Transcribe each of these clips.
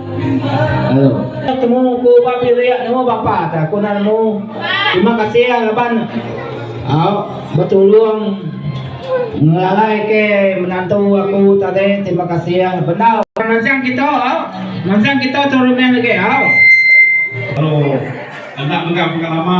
Hello. Temu ku ba pirik nemu bapa ta aku nak nemu. Terima kasih ya laban au bertolong ngelalai ke menantu aku tadi. Terima kasih ya bendau. Mansang kita au. Mansang kita tu rumah lagi au. Hello. Enda mega pengalama.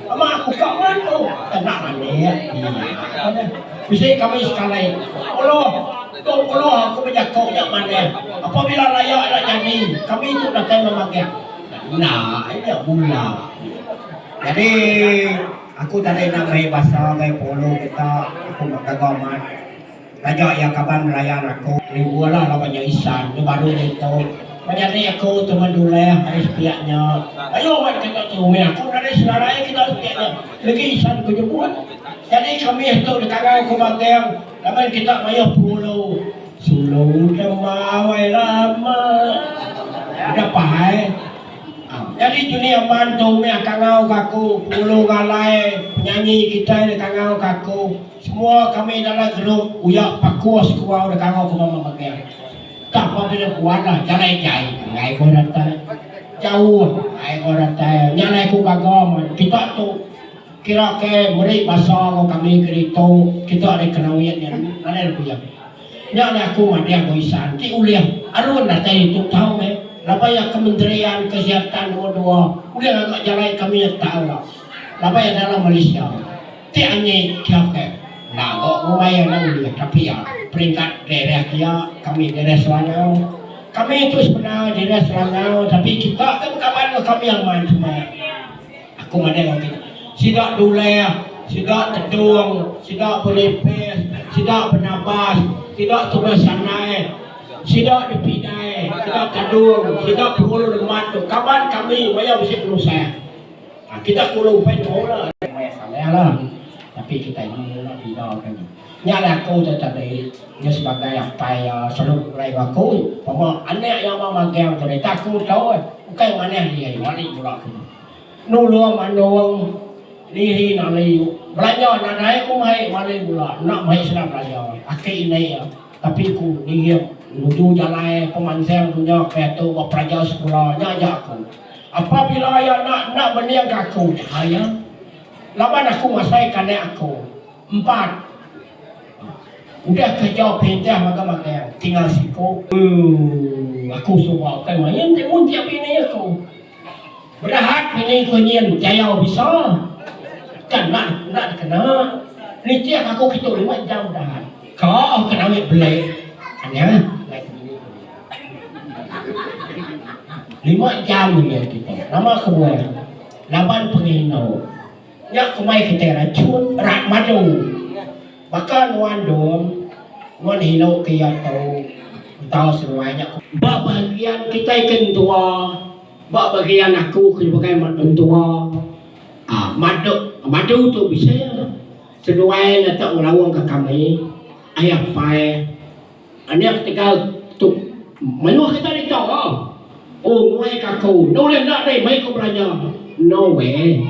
Ama aku ka man tu. Tenang alik nya. Bisi kami sekali. Puluh. Dua puluh aku bejako nya manah. Apabila raya ila nyadi, kami tu datai memagak. Enda nya bula. Nyadi aku tadi enda meri basa gai penghulu kita. Aku mega gawa mat. Taja iya kaban rayan aku. Rindu lah laban nya isan nya baru nya itu. Ba nyadi aku tu meh duleh ari sepiak nya. Mayuh wan kita tu mih aku nadai senarai kita sepiak nya legi isan ku nyebut. Jadi ka mih tu dikangau ku Bating laban kita mayuh pengulu. Sulu dema wai lama. Udah pah ai. Jadi Juni Aman tu mih kangau ka aku pengulu ngalai penyanyi kitai dikangau ka aku. Semua kami dalam gerup uya paku sekua udah kangau ke mama Magang. Tah pabila ku Anah jalai jai enggai ko Ratai. Jauh enggai ko Ratai nya alai ku gaga man kita tu kira ke meri basa enggau kami ke ditu kita ari Kerawit nya dulu nadai lebih. Nya alai aku madah ko Isan ti ulih Arun datai ditu tau meh laban iya Kementerian Kesihatan nombor dua ulih ngaga jalai kami neg tau ira laban iya dalam Malaysia. Ti anyi kiau ke ngaga rumah iya enda ulih ka pia peringkat daerah kia kami daerah Selangau. Kami tu sebenar daerah Selangau tapi kita ke bekaban enggau kami amat cuma aku madai ogi sida duleh sida tedung sida benipis sida benabas sida tugas sanai sida dipidai sida tedung sida perulu neman tu kaban kami maya bisi penusah. Kitai kulu upai tu la aja maya samah la tapi kitai nemu la pida ka nya. Nya alai aku tu tadi nya sebagai apai iya selalu beguai enggau aku pama anak iya mau magang tu deh tak aku tau ai ukai manah dia iya ari mula aku tu nulung mandung diri nali belanja nadai aku mai mali mula enda mai sida belanja aki indai iya. Tapi aku ngiring nuju jalai pemansang dunya ke tu ba pelajar sekula nya aja aku. Apabila iya enda enda beningka aku jahai iya. Laban aku ngasaika anak aku empat udah kereja perintah magang-magang tinggal siku. Uu aku suba ukai main ti muntik bini aku. Berehat ini ke nyin jayau bisa. Kana enda dikena. Nitih aku kitu lima jam berehat. Ka ke nawi bele. Anya alai ke bini ku nyin. Lima jam nya kita. Nama kebuah. Laban penginou. Nya kumbai kitai rachun rak madu. Baka nuan dom ngun hilo ke iya tau entau seruai nya kumbai. Ba bahagian kitai ke entua, ba bahagian aku ke sebagai mentua aaa madu madu tu bisi seduai ngetak ngelaungka kami ai apai. Anak tegal tu mayuh kita ari ento lo. Ooh nguai ka aku. Enda ulih enda deh meh ku belanja. No way.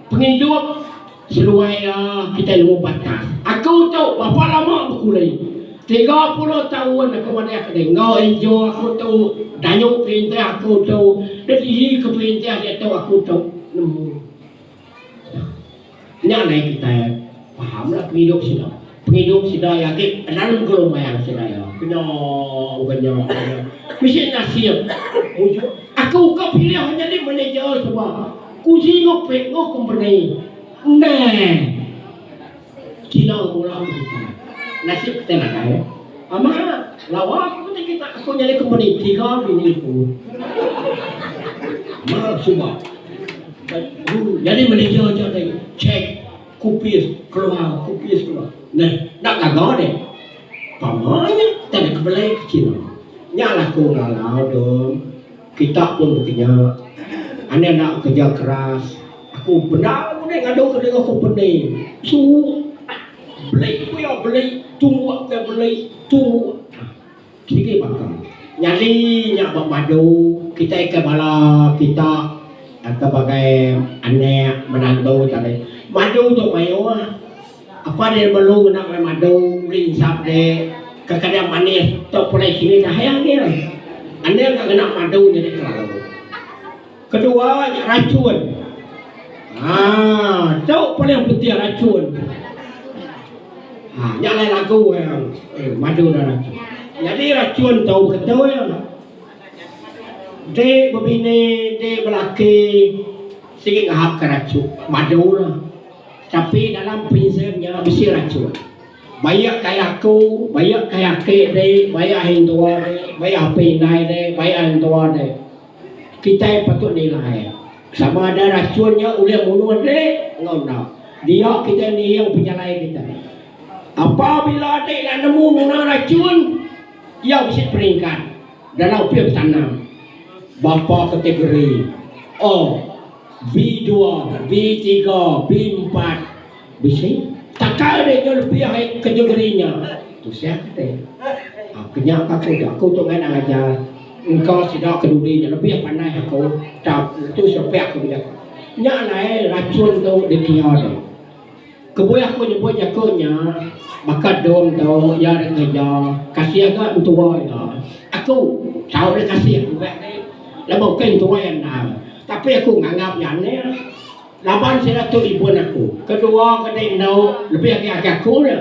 Pengidup seduai iya kitai nemu batas. Aku tu berapa lama bekuli. Tiga puluh taun aku madah ke deh. Enggau injor aku tu dayung perintah aku tu. Deh ke perintah diatu aku tu nemu. Nya alai kitai pahamlah pengidup sida. Pengidup sida iya agi raun gelombang sida iya. Kena ukai nya aja. Bisi nasib mujur. Aku ka pilih nyadi manager suba. Ku Zee ngepit enggau kompeni. Endang. Kilang Bola Mengkang. Nasib kitai nadai. Ama, lawa aku meda kita aku nyadi kompeni tiga bini aku. Ama suba. Aku nyadi manager aja deh. Check kupis keluar, kupis keluar. Neh, dak gaga deh. Pama nya kita deh kebelai ke China. Nya laku ngalau dong. Kita pun bekeja. Ane enda bekeja keras. Aku bendar ku deh ngadu ke diri aku peni. Suhu. Beli ku iya beli, tumbuk ku iya beli, tumbuk. Sigi baka. Nyadi nya ba madu kitai ke bala kita ke bagai anak, menantu tadi. Madu tu mayuh. Apan iya melu ngena ulih madu, ulih ngisap de ke keda manis tok pulai sini dahai anil. Anil ka ngena madu nyadi kelalu. Kedua nya rachun. Haa tu paling penting rachun. Haa nya alai lagu iya madu dak rachun. Nyadi rachun tu beketul enti bebini enti belaki sigi ngahap ka rachun madu. Tapi dalam prinzim nya bisi rachun. Baik kai aku, baik kai aki deh, baik ai entua deh, baik api indai deh, baik ai entua deh. Kitai patut nilai sama ada rachun nya ulih munuh deh enggau enda. Dia kitai niing pejalai kitai. Apabila deh ila nemu ngena rachun, iya bisi peringkat dalam field tanam bapa kategori A. B-dua, B-tiga, B-empat. Bisi. Takal deh nyau lebih ai kategori nya. Tusah kati. Ha, ke nya ka aku. Aku tu ngan dang ajar. Engka sida ke dudi nya lebih pandai aku. Tang, tu serepek aku meda. Nya alai racun tu dikira deh. Kebuah aku nyebut jaku nya baka dong tu iya ri kerja kasih ga entua iya. Aku tau ri kasih udah ri laban ukai entua iya endang tapi aku nganggap iya anek laban sida tu ibun aku. Kedua kadi enda lebih agi agi aku nya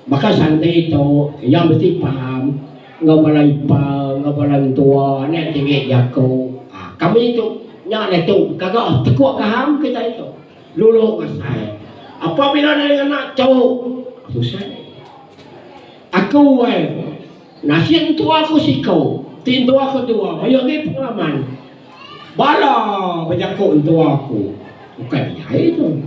baka Sandi tu iya mesti paham enggau bala ipar enggau bala entua anak tiri jaku uhh kami tu nya ditu kaga tekuk paham kitai tu. Dulu ngasai. Apabila nadai ngena tu. Tusah deh. Aku wai. Nasit entua ku siku. Ti entua ku tua. Mayuh agi pengalaman. Bala bejaku entua aku. Bukai bejai tu.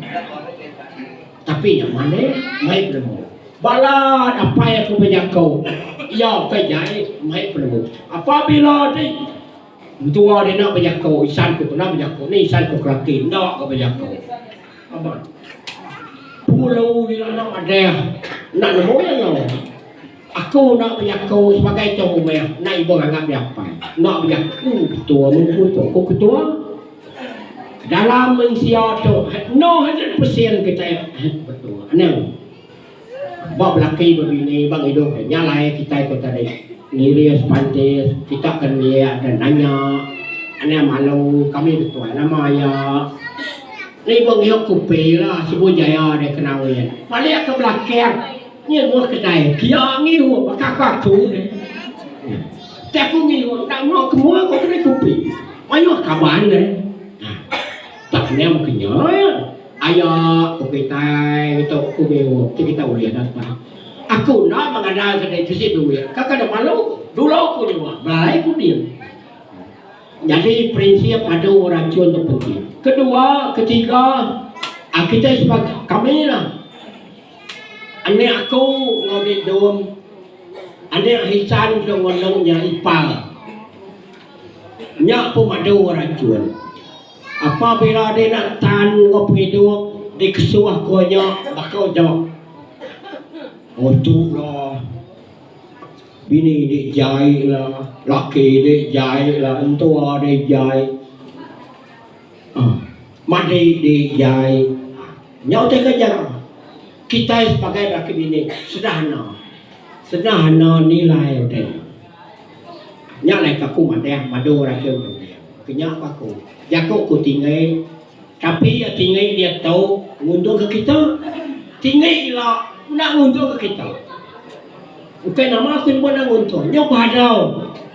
Tapi nya manah. Mai penemu. Bala dapai aku bejaku. Iya bukai jai. Mai penemu. Apabila dei. Entua dia enda bejako isan ko kena bejako ni isan ko kelaki enda ga bejako amat. Pulu ila enda madah enda nemu iya nyau. Aku enda bejako sebagai tong rumah enda ibuh nganggap iya apai enda bejako ketua mun ku pok ko ketua dalam mensia tu 100% kitai ketua anang. Ba belaki ba bini ba ngidup deh nya alai kitai ko tadi ngiris pantis kita ke neliak deh nanya anang malu kami betuai nama iya ni ba ngiok kupi la sibu jaya deh ke nawin balik ke belakang nyi muh kedai kia ngiuk baka aku aku deh ti aku ngiuk enda meh kemua ko kedai kupi mayuh kaban deh. Tak kena meka nya iya. Aya ko kitai ngetu ku Beo, tu kitai ulih datai. Aku enda mengandalka diri bisi duit, ka kada malu ku. Dulu ku nyua, belalai ku din. Jadi prinsip adu racun tu penting. Kedua, ketiga, ah, kita sebagai kami lah. Anak aku ngau di dom, anak hisan ke ngonong nya ipar. Nya pun madu racun. Apabila dina entan enggau pengidup dikesuh ku nya baka uja oh tu la bini di jai la laki di jai la entua di jai uhh madi di jai uhh nya utai ke ajar kitai sebagai laki bini sederhana sederhana nilai utai nya. Nya alai ka aku madah madu orang ke menunding. Kenya ku aku. Jaku ku tinggi tapi iya tinggi diatu nguntungka kita. Tinggi ila enda nguntungka kita. Ukai nama ku nyebut enda nguntung. Nyau padau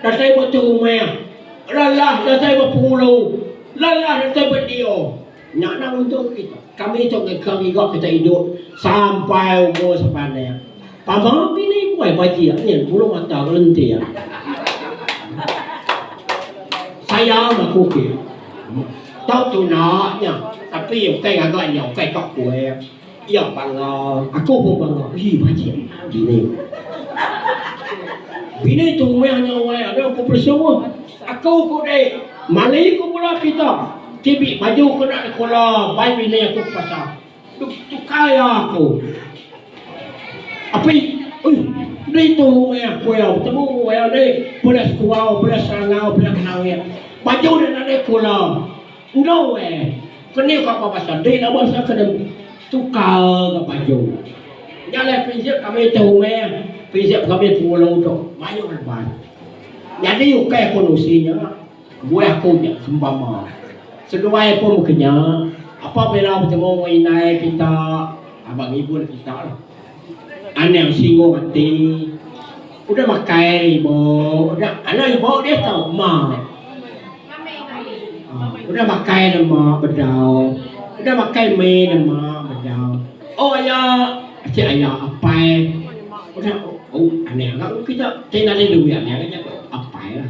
datai ba tu rumah. Lalah datai ba pengulu. Lalah datai ba nio. Nya anang untung kita. Kami tu ngeka ngiga kita idup sampai umur sepanek. Tama bini ku ai bajik nyin bulu mata gelentir. Sayang aku ke. Tau tuna nya. Tapi ukai ngaga nya ukai tok kuih. Iya bangga, aku pun bangga. Ih bajik nya bini. Bini tu meh nya wai ada aku bersua. Aku ku deh mali ku bala kita ti bi baju kena dikula bai bini aku ke pasar. Duk tukai iya aku. Api ih ditu meh aku iya betemu iya nih belas kuau belas rangau belas langit. Baju nya nadai kula. Enggau eh. Keni kapa pasal ti enda basa kedem tukar ga baju. Nya leh prinsip kami ti rumah, prinsip kami pengulu tu mayuh leban. Nyadi ukai ku nusi nya, kebuah aku nya sempama seduai pun mega nya apabila betemu enggau indai kita aba ngibun kita lah. Anang singgung ati, udah makai ri ibu, udah anak ibu diatu tau ma, udah makai dah ma bedau, udah makai mi dah ma bedau, oh aya ati aya apai udah oh anang ga kita ti nadai duit anang ga jaku apai lah.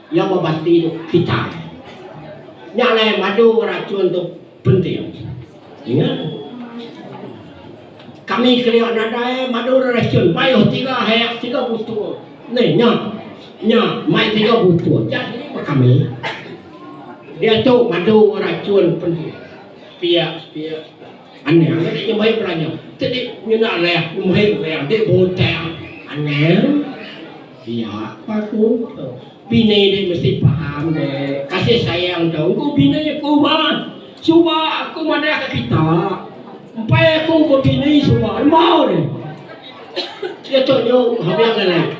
Iya ba bati tu kitai. Nya alai madu racun tu penting. Ninga. Kami kelia nadai madu racun mayuh tiga hai tiga butul. Ni nya. Nya mai tiga butul. Jadi ba kami. Dia tu madu racun penting. Pia pia. Aneh aneh dia mai belanja. Tadi nyenda leh mai orang dia botang. Aneh. Iya, ka ku tu. Bini dek mesti paham dek, kasih sayang tu engku bini aku bah. Suba aku madah ka kita. Empai aku ba bini suba embau ni. Dia tu nyu habang alai.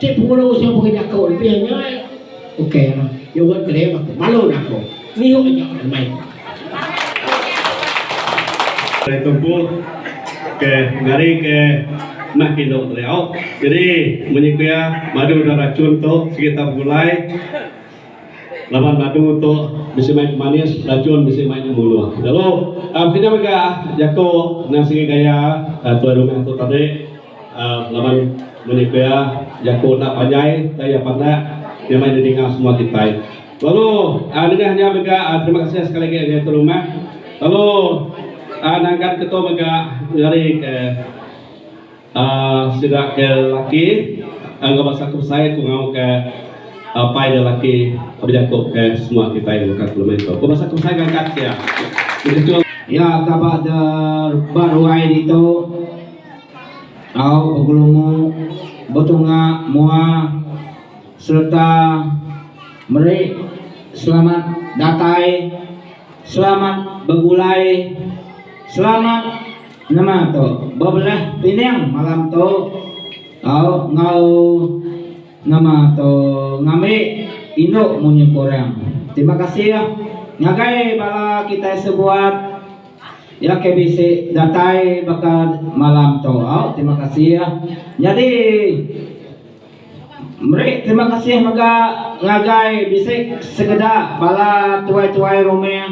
Ti pengulu usa pengah jaku enti nya ai. Ok lah. Nya wet keling aku. Malu dah aku. Ngiuk aja lah meh. Ari tumpuk ke ngari ke meh kindu teliau. Jadi munyi ku iya madu da racun tu sigi tau begulai laban madu tu bisi mai pemanis racun bisi mai ngemunuh lalu. Pekena mega jaku nan sigi gaya tuai rumah aku tadi. Laban menya pia jaku enda panjai tang iya panak iya meh didinga semua kitai. Lalu nengah nya mega terima kasih sekali lagi ngagai tuan rumah lalu nangkan ke tu mega ngeri ke uhh sida ke laki enggau basa ke besai ku ngau ke apai dia laki bejaku ke semua kitai baka aku ngemin tu. Ku basa ke besai ngangkat sia. Iya taba ke ba ruai ditu. Au begelumu, betunga mua sereta meri selamat datai, selamat begulai, selamat nama tu bebelah pining malam tu au enggau nama tu ngambi indu munyi korang. Terima kasih ngagai bala kitai sebuat. Iya ke bisi datai baka malam tu. Au terima kasih. Nyadi meri terima kasih mega ngagai bisi sekeda bala tuai-tuai rumah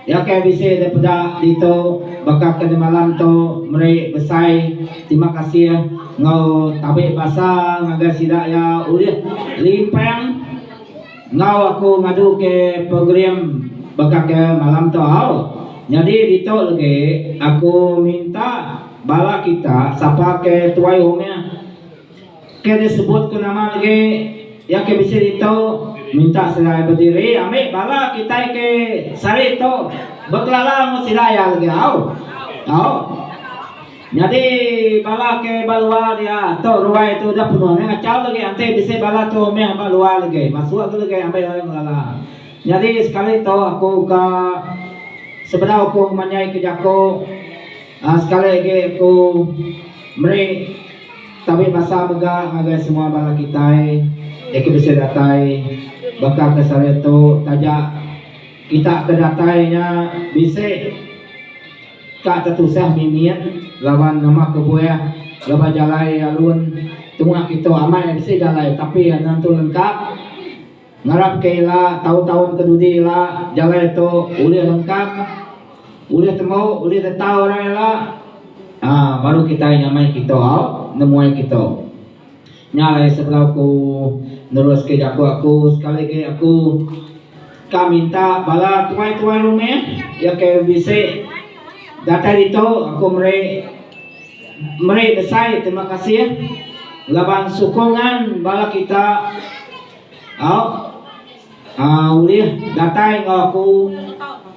iya ke bisi daripada ditu baka ke malam tu meri besai terima kasih enggau tabi basa ngagai sida iya ulih limpang. Enggau aku ngadu ke program baka ke malam tu au. Nyadi ditu legi aku minta bala kita sapa ke tuai umih ke disebut ku nama legi iya ke bisi ditu minta sida bediri ambi bala kitai ke sehari tu bekelala enggau sida iya legi au. Nyadi bala ke ba luar dia tu ruai tu udah penuh meh ngachau lagi enti bisi bala tu meh ba luar lagi masuk agi lagi ambi orang ngelala. Nyadi sekali tu aku ka sebedau aku ngemanyai ke jaku aaa sekali agi aku meri tabi basa mega ngagai semua bala kitai iya ke bisi datai baka kes hari tu taja kita ke datai nya bisi Ka tetusah mimit laban nama kebuah lebuh jalai alun tunga kitu amai bisi jalai tapi anan tu lengka ngarap ke ila taun taun ke dudi ila jalai tu ulih lengka ulih tembu ulih tetau orang ila aaa baru kitai nyamai kitu au nemuai kitu Nya alai sebedau aku neruska jaku aku sekali agi aku ka minta bala tuai-tuai rumah iya ke bisi datai ditu aku meri meri besai terima kasih laban sukungan bala kita auk aaa ulih datai enggau aku.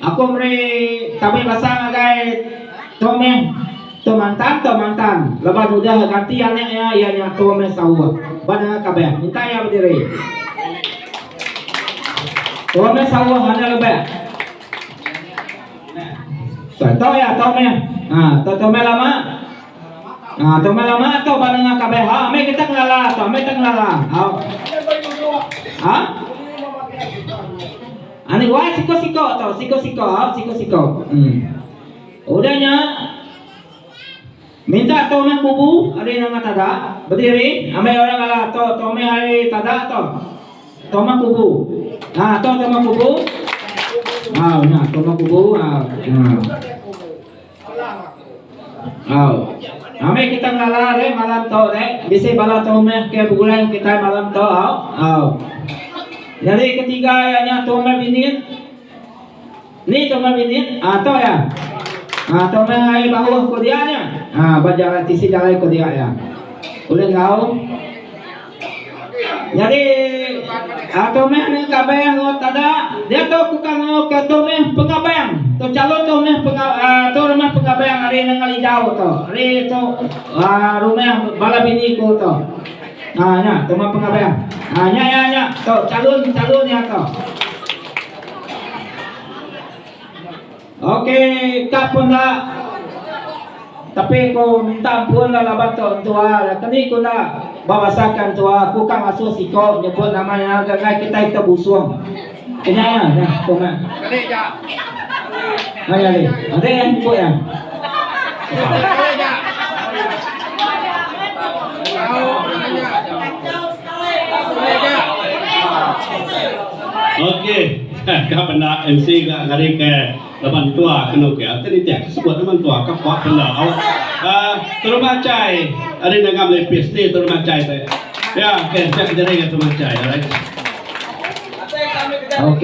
Aku meri tabei basa ngagai tu meh tu mantan tu mantan laban udah ganti anak iya iya nya tu meh sauh ba nanga kabeh minta iya bediri tu meh sauh ande lebek tu tu iya tu meh ha tu tu meh lama ha tu meh lama tu ba nanga kabeh ha meh kita ngelala tu meh kita ngelala au ha Anih wai siko-siko tu siko-siko siko-siko um udah nya minta tu meh kubu ari nengah taga bediri ambai orang alah tu tu meh ari taga tu tu meh kubu um tu tu meh kubu um nya tu meh kubu um. Au. Amai kita ngala deh malam tu deh. Bisi bala tumeh ke begulai enggau kitai malam tu au. Au. Nyadi ketiga iya nya tumeh binin. Ni tumeh binin? Ah tu iya. Ah tumeh ai bauh ku dia nya. Ah ba jarai tisi jarai ku dia iya. Ulih enggau. Nyadi tu meh nya kabeh enggau tada diatu ku ka enggau ke tu meh pengabang tu calon tu meh tu rumah pengabang ari Nanggal Ijau tu ari tu aaa rumah bala bini ku tu aaa nya rumah pengabang aaa nya nya nya tu calon calon nya tu. Ok kap pun enda tapi ku minta ampun lah laban tu entua lah ke ni ku enda ba basa ke entua ku ka ngasuh siko nyebut nama iya ga ngagai kitai kita busung ke nya iya nya ku meh ha nya ali ade iya nyebut iya ok. Ka benda MC ga ngari ke laba mentua ke anu ke ati nitih ke sebut nama mentua ka puak benda au uhh terima achai ari ngaga melipis ni terima achai te ya ke sia ke nyeri ga terima achai alright ok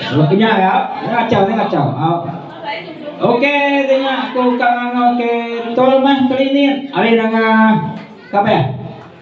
lalu kinya ga jangan achau jangan achau au ok kinya aku ka ngau ke betul meh kelinin ari ngaga ka beh.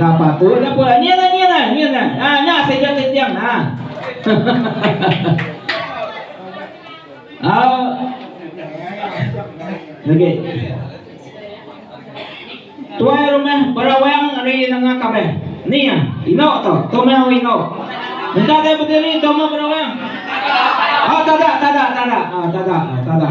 Napa tu? Napa? Ni ngan ni ngan ni ngan. Ah, ha, nah saya jatuh tiang nah. Ah. Okey. Tuai rumah berawang hari nengah kabe. Ni ya, ino to. Tu mah ino. Minta dia berdiri tu mah berawang. Ah, tada, tada, tada. Ah, tada, tada.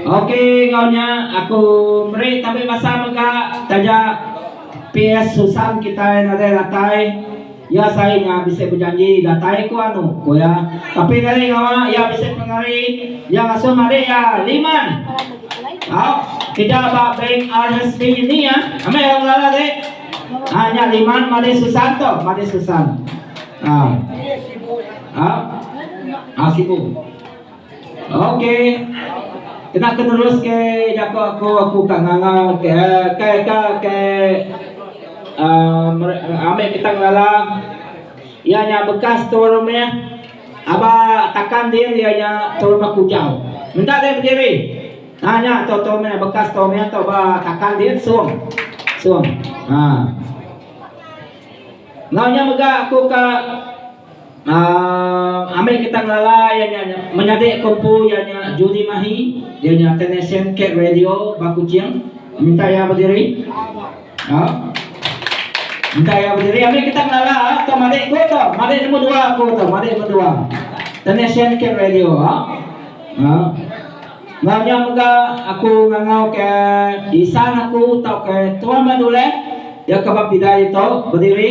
Okey enggau nya aku meri tabi masa mega taja PS Susan kitai nadai datai iya sai nya bisi bejanji datai ku anu ku iya tapi nadai ngawa iya bisi pengari iya ngasuh madik iya liman au keja ba bank RSB ni ah amai iya ngelala dek ah nya liman madik Susan tu madik Susan ah au ah sibu. Okey. Kena ke nerus ke jaku aku, aku ka ngangau ke ke ke ke aaa mere amik kita ngelala iya nya bekas tua rumih aba takan din iya nya tua rumih kujau. Menda deh bediri. Ha nya tu tua rumih bekas tua rumih tu ba takan din sung sung. Ha. Enggau nya mega aku ka Aaa ambi kita ngelala iya nya menyadi ko empu iya nya Judy Mahi iya nya technician Cat Radio ba Kuching minta iya bediri aaa minta iya bediri ambi kita ngelala tu madik ko tu madik nombor dua ko tu madik nombor dua technician Cat Radio aaa enggau nya mega aku ngangau ke isan aku tauka Tuan Maduleh iya ke ba pidai ditu bediri.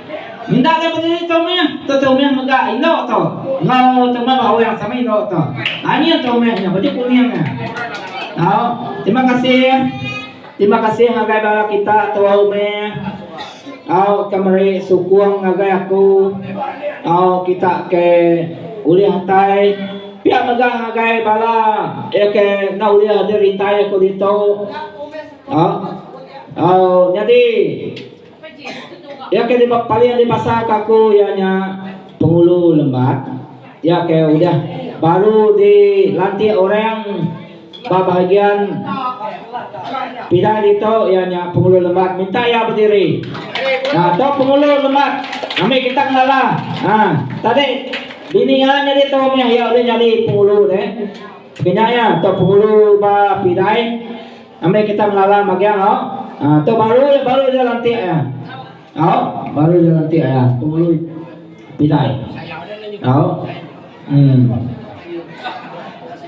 Enda ga bediri tu meh tu tu meh mega inu tu enggau tu meh ba awang sama inu tu angin tu meh nya baju kuning nya tau terima kasih terima kasih ngagai bala kita tuai umeh tau ke meri sukung ngagai aku tau kita ke ulih atai pia mega ngagai bala iya ke enda ulih dirintai aku ditu tau tau nyadi. Iya ke dipa paling dipasaka aku iya nya Pengulu Lembat iya ke udah baru dilantik orang ba bahagian pidai ditu iya nya Pengulu Lembat minta iya bediri aaa tu Pengulu Lembat ami kita ngelala aaa tadi bini iya nyadi tu meh iya ulih nyadi Pengulu deh. Pekena iya tu Pengulu ba pidai. Ambi kita mengalam agi au. Aa tu baru iya baru iya lantik iya. Au baru iya lantik iya penghulu pidai. Au. Hmm.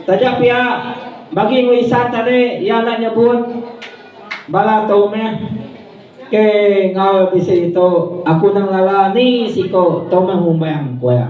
Taja pia bagi enggau isan tadi iya enda nyebut bala tu meh ke enggau bisi tu aku nang lala ni siko tu meh umbang ku iya.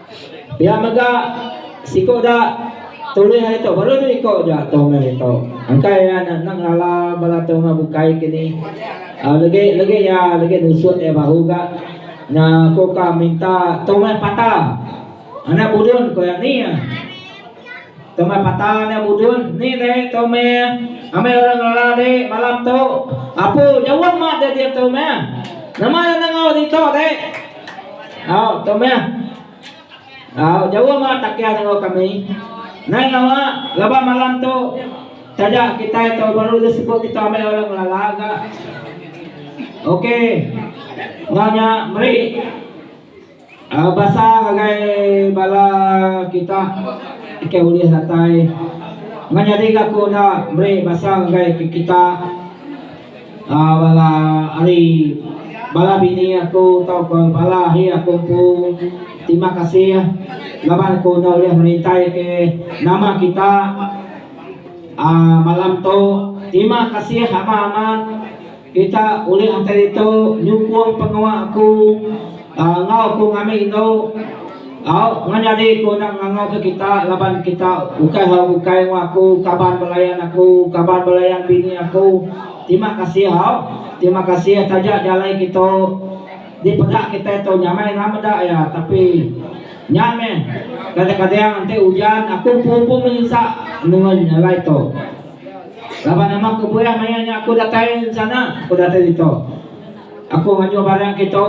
Pia mega, siku da tulih hari tu baru dua iku aja atung hari tu. Engkai iya enda enda ngala bala atung enggau bukai ke ni. Aaa legi legi iya legi nusut iya baru ga nya aku ka minta tong meh pata anak budun ku iya ni iya. Tong meh pata anak budun ni deh tong meh amai orang ngala deh malam tu. Apu jauh amat deh diatu meh. Nama iya enda enggau ditu deh. Au tu meh. Au jauh meh takeh enggau kami. Nai ngawa laban malam tu taja kitai tu baru deh sebut kita amai orang lala ga. Ok enggau nya meri aaa basa ngagai bala kita ke ulih datai. Meh nyadi ga ku enda meri basa ngagai ke kita. Bala ari bala bini aku tauka bala ahi aku empu terima kasih laban aku enda ulih merintai ke nama kita aaa malam tu terima kasih amat-amat kita ulih matai ditu nyukung pengawa aku. Enggau ku ngami indu tau ngejadi ku enda ngangau ke kita laban kita ukai hau ukai enggau aku kaban belayan aku kaban belayan bini aku tima kasih hau tima kasih taja jalai kitu di peda kitai tu nyamai enda meda iya tapi nya meh kadang kadang enti ujan aku empu empu menyinsa nengoi jalai tu laban nama kebuah maya nya aku datai ensana aku datai ditu. Aku ngayuh barang kitu.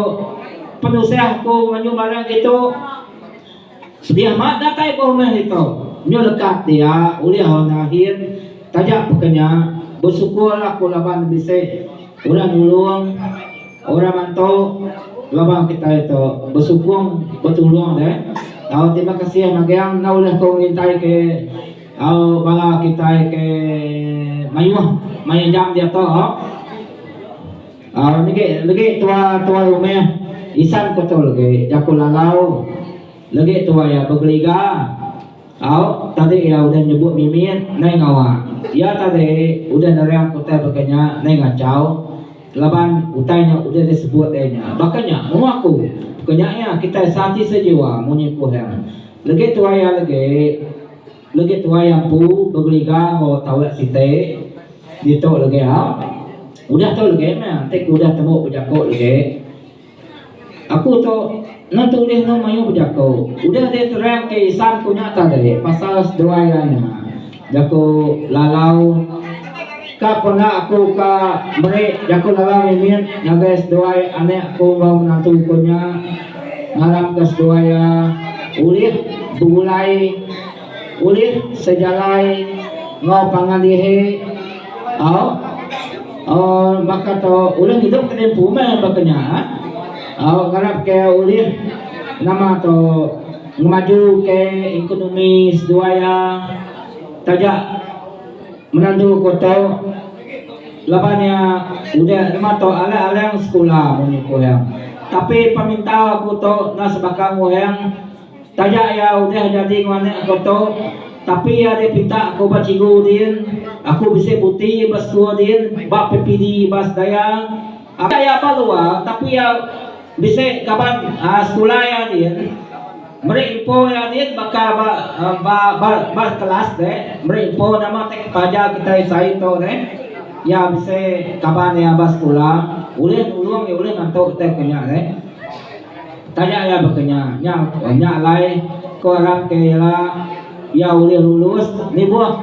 Penusah aku ngayuh barang kitu. Sedia ma datai ba rumah kitu. Nyu leka dia ulih enda ahin. Taja peka nya, besukur aku laban bisi orang nulung, orang mantu laban kitai tu besukung betulung deh. Au terima kasih magang enda ulih ku ngintai ke au bala kitai ke mayuh maya jam diatu. Legi legi tua tuai umih isan ko tu legi jaku lalau legi tua iya begeliga au tadi iya udah nyebut mimit nai ngawa iya tadi udah nerang ke utai baka nya nai ngachau laban utai nya udah di sebut deh nya baka nya mung aku ke nya iya kitai sati sejiwa munyi ku hang legi tua iya legi. Legi tuai ampu begeliga enggau taulak siti ditu legi a. Udah tu legi meh enti ku udah tembu bejaku legi. Aku tu enda tu ulih enda mayuh bejaku. Udah deh terang ke isan ku nya tadi pasal seduai iya nya. Jaku lalau. Ka pernah aku ka meri jaku nerang mimit ngagai seduai anak aku enggau menantu aku nya. Ngarapka seduai iya ulih begulai, ulih sejalai enggau pangan dihi au baka tu ulih ngidup ka diempu meh baka nya au ngarapka iya ulih nama tu ngemajuka ekonomi seduai iya taja. Menantu ku Tau laban iya udah nematok alang-alang sekula munyi Kuheng. Tapi peminta ku tu enda sebaka Kuheng taja iya udah jadi enggau anak ku tu tapi iya deh pinta ku ba cikgu din aku bisi buti ba sekul din ba PPD ba sedaya apai iya ba luar tapi iya bisi kaban sekula iya din. Meri impo iya din baka ba ba ba kelas deh. Meri impo nama ti kepaja kitai sai tu deh. Iya bisi kaban iya ba sekula ulih nulung iya ulih mantu kitai baka nya deh. Taja iya baka nya, nya nya alai ku arap ke ila iya ulih lulus nibuh.